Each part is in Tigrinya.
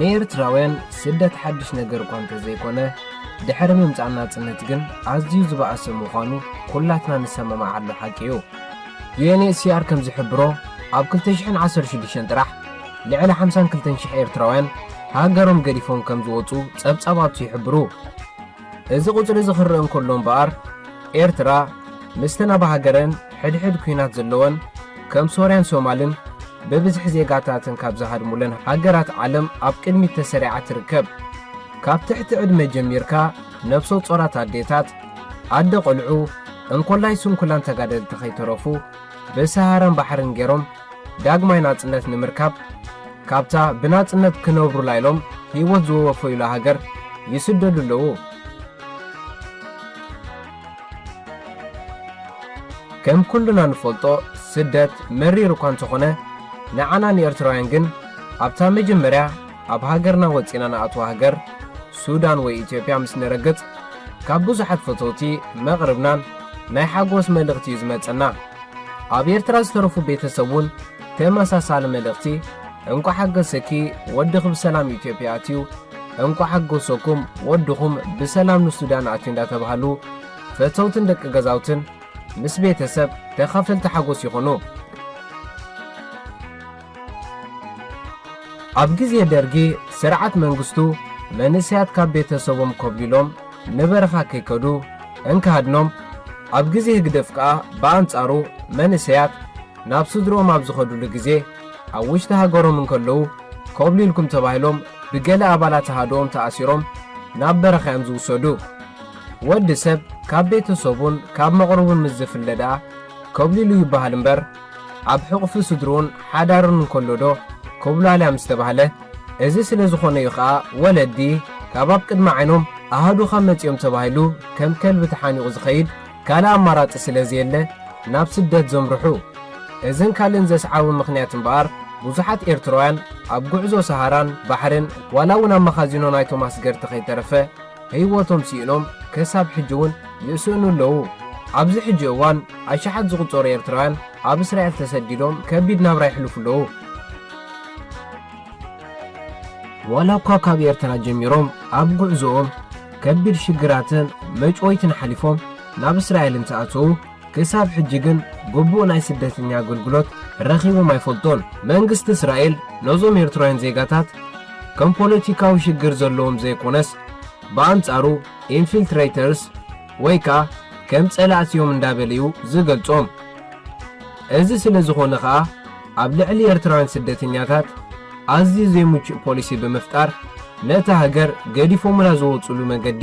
ንኤርትራውያን ስደት ሓድሽ ነገር እኳ እንተዘይኮነ ድሕሪ ምምጻእ ናጽነት ግን ኣዝዩ ዝበኣሰ ምዃኑ ኩላትና ንሰማማዓሉ ሓቂ እዩ። UNHCR ከም ዝሕብሮ ኣብ ክልተ ሽሕን ዓሰርተ ሽዱሽተን ጥራሕ ልዕሊ ሓምሳን ክልተን ሽሕ ኤርትራውያን ሃገሮም ገዲፎም ከም ዝወጹ ጸብጻባቱ ይሕብሩ። እዚ ቁጽሪ እዚ ክረኣ እንከሎ እምበኣር ኤርትራ ምስተን ኣብ ሃገረን ሕድሕድ ኲናት ዘለወን ከም ሶርያን ሶማልን ብብዝሒ ዜጋታተን ካብ ዝሃድሙለን ሃገራት ዓለም ኣብ ቅድሚት ተሰሪዓ ትርከብ። ካብ ትሕቲ ዕድመ ጀሚርካ ነፍሰ ጾራት ኣዴታት፣ ኣደ ቆልዑ፣ እንኮላይ ስንኩላን ተጋደልቲ ከይተረፉ ብሰሃራን ባሕርን ገይሮም ዳግማይ ናጽነት ንምርካብ ካብታ ብናጽነት ክነብሩላ ኢሎም ህይወት ዝወወፈዩላ ሃገር ይስደዱ ኣለዉ። ከም ኩሉና ንፈልጦ ስደት መሪር እኳ እንተኾነ ንዓና ንኤርትራውያን ግን ኣብታ መጀመርያ ኣብ ሃገርና ወጺና ንኣትዋ ሃገር ሱዳን ወይ ኢትዮጵያ ምስ ንረግጽ ካብ ብዙሓት ፈተውቲ መቕርብናን ናይ ሓጎስ መልእኽቲ እዩ ዝመጸና። ኣብ ኤርትራ ዝተረፉ ቤተሰብ ውን ተመሳሳሊ መልእኽቲ እንቋዕ ሓገሰኪ ወድኺ ብሰላም ኢትዮጵያ ኣትዩ እንቋዕ ሓጎሰኩም ወድኹም ብሰላም ንሱዳን ኣትዩ እንዳተባህሉ ፈተውትን ደቂ ገዛውትን ምስ ቤተሰብ ተኻፈልቲ ሓጎስ ይኹኑ። ኣብ ግዜ ደርጊ ስርዓት መንግስቱ መንእሰያት ካብ ቤተሰቦም ኮብሊሎም ንበረኻ ከይከዱ እንክሃድኖም፣ ኣብ ግዜ ህግደፍ ከኣ ብኣንጻሩ መንእሰያት ናብ ስድርኦም ኣብ ዝኸድሉ ግዜ ኣብ ውሽጢ ሃገሮም እንከለዉ ኮብሊልኩም ተባሂሎም ብገለ ኣባላት ኣሃዱኦም ተኣሲሮም ናብ በረኻ'ዮም ዝውሰዱ። ወዲ ሰብ ካብ ቤተሰቡን ካብ መቕርቡን ምስ ዝፍለ ደኣ ኮብሊሉ ይበሃል እምበር፣ ኣብ ሕቑፊ ስድርኡን ሓዳሩን እንከሎዶ? ኮብላልያ ምስ ተባህለ፣ እዚ ስለ ዝኾነ'ዩ ከኣ ወለዲ ካብ ኣብ ቅድሚ ዓይኖም ኣሃዱኻ መጺኦም ተባሂሉ ከም ከልቢ ተሓኒቑ ዝኸይድ ካልእ ኣማራጺ ስለ ዘየለ ናብ ስደት ዘምርሑ። እዝን ካልእን ዘስዓቡ ምኽንያት እምበኣር ብዙሓት ኤርትራውያን ኣብ ጉዕዞ ሰሃራን ባሕርን ዋላ'ውን ኣብ መኻዚኖ ናይቶም ኣስገርቲ ከይተረፈ ህይወቶም ስኢኖም ክሳብ ሕጂ እውን ይስእኑ ኣለዉ። ኣብዚ ሕጂ እዋን ኣሽሓት ዝቑጸሩ ኤርትራውያን ኣብ እስራኤል ተሰዲዶም ከቢድ ናብራ የሕልፉ ኣለዉ። ዋላ እኳ ካብ ኤርትራ ጀሚሮም ኣብ ጉዕዞኦም ከቢድ ሽግራትን መጭወይትን ሓሊፎም ናብ እስራኤል እንተኣተዉ ክሳብ ሕጂ ግን ግቡእ ናይ ስደተኛ ኣገልግሎት ረኺቦም ኣይፈልጡን። መንግስቲ እስራኤል ነዞም ኤርትራውያን ዜጋታት ከም ፖለቲካዊ ሽግር ዘለዎም ዘይኮነስ ብኣንጻሩ ኢንፊልትሬተርስ ወይ ከኣ ከም ጸላእቲ እዮም እንዳበለ እዩ ዝገልጾም። እዚ ስለ ዝኾነ ከኣ ኣብ ልዕሊ ኤርትራውያን ስደተኛታት ኣዝዩ ዘይምቹእ ፖሊሲ ብምፍጣር ነታ ሃገር ገዲፎምላ ዝወጽሉ መንገዲ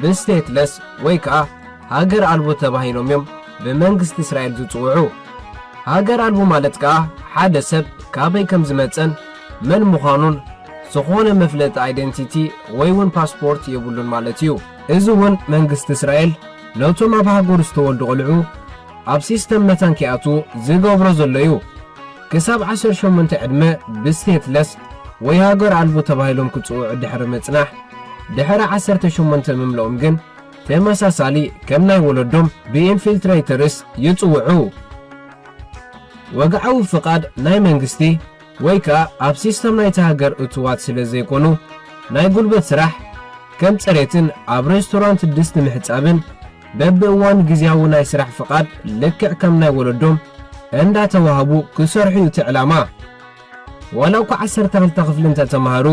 ብስቴትለስ ወይ ከኣ ሃገር ኣልቦ ተባሂሎም እዮም ብመንግስቲ እስራኤል ዝጽውዑ። ሃገር ኣልቦ ማለት ከኣ ሓደ ሰብ ካበይ ከም ዝመጸን መን ምዃኑን ዝኾነ መፍለጢ ኣይደንቲቲ ወይ'ውን ፓስፖርት የብሉን ማለት እዩ። እዚ'ውን መንግስቲ እስራኤል ነቶም ኣብ ሃገሩ ዝተወልዱ ቆልዑ ኣብ ሲስተም መታን ከይኣትዉ ዝገብሮ ዘሎ እዩ። ክሳብ ዓሰርተ ሸሞንተ ዕድመ ብስቴትለስ ወይ ሃገር ኣልቦ ተባሂሎም ክጽውዑ ድሕሪ ምጽናሕ፣ ድሕሪ ዓሰርተ ሸሞንተ ምምልኦም ግን ተመሳሳሊ ከም ናይ ወለዶም ብኢንፊልትረይተርስ ይጽውዑ። ወግዓዊ ፍቓድ ናይ መንግስቲ ወይ ከኣ ኣብ ሲስተም ናይታ ሃገር እቱዋት ስለ ዘይኮኑ፣ ናይ ጉልበት ስራሕ ከም ጽሬትን ኣብ ሬስቶራንት ድስቲ ምሕጻብን በብእዋኑ ግዝያዊ ናይ ስራሕ ፍቓድ ልክዕ ከም ናይ ወለዶም እንዳተዋህቡ ክሰርሑ እዩ እቲ ዕላማ። ዋላ እኳ ዓሰርተ ክልተ ክፍሊ እንተተማህሩ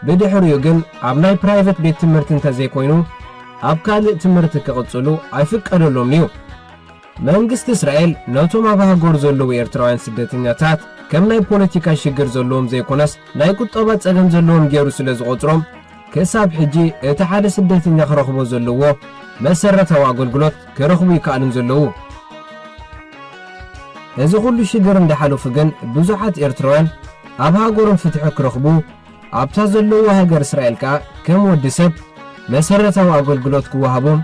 ብድሕሪኡ ግን ኣብ ናይ ፕራይቨት ቤት ትምህርቲ እንተዘይኮይኑ ኣብ ካልእ ትምህርቲ ክቕጽሉ ኣይፍቀደሎምን እዩ። መንግስቲ እስራኤል ነቶም ኣብ ሃገሩ ዘለዉ ኤርትራውያን ስደተኛታት ከም ናይ ፖለቲካ ሽግር ዘለዎም ዘይኮነስ ናይ ቁጠባ ጸገም ዘለዎም ጌሩ ስለዝቖጽሮም ክሳብ ሕጂ እቲ ሓደ ስደተኛ ክረኽቦ ዘለዎ መሰረታዊ ኣገልግሎት ክረኽቡ ኣይከኣሉን ዘለዉ። እዚ ኩሉ ሽግር እንዳሓለፉ ግን ብዙሓት ኤርትራውያን ኣብ ሃገሮም ፍትሒ ክረኽቡ ኣብታ ዘለዉዋ ሃገር እስራኤል ከኣ ከም ወዲ ሰብ መሰረታዊ ኣገልግሎት ክወሃቦም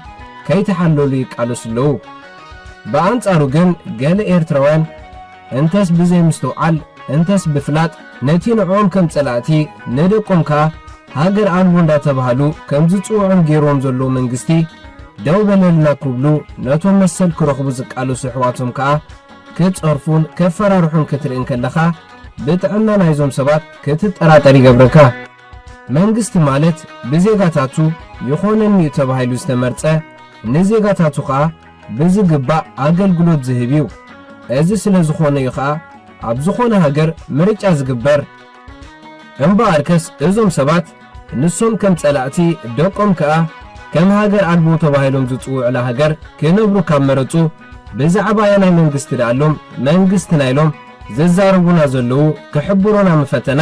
ከይተሓለሉ ይቃለሱ ኣለዉ። ብኣንጻሩ ግን ገለ ኤርትራውያን እንተስ ብዘይምስትውዓል እንተስ ብፍላጥ ነቲ ንዕኦም ከም ጸላእቲ ንደቆም ከኣ ሃገር ኣልቦ እንዳተባሃሉ ከም ዝጽውዑም ጌርዎም ዘሎ መንግስቲ ደው በለልና ክብሉ ነቶም መሰል ክረኽቡ ዝቃለሱ ኣሕዋቶም ከኣ ክጸርፉን ከፈራርሑን ክትርኢ እንከለኻ ብጥዕና ናይዞም ሰባት ክትጠራጠር ይገብረካ። መንግስቲ ማለት ብዜጋታቱ ይኾነኒ'ዩ ተባሂሉ ዝተመርጸ ንዜጋታቱ ከኣ ብዝግባእ ኣገልግሎት ዝህብ እዩ። እዚ ስለ ዝኾነ እዩ ኸኣ ኣብ ዝኾነ ሃገር ምርጫ ዝግበር። እምበኣርከስ እዞም ሰባት ንሶም ከም ጸላእቲ ደቆም ከኣ ከም ሃገር ኣልቦ ተባሂሎም ዝጽውዑላ ሃገር ክነብሩ ካብ መረጹ ብዛዕባ ኣየናይ መንግስቲ ደኣ ኣሎም መንግስትና ኢሎም ዝዛረቡና ዘለዉ ክሕብሩና ምፈተና።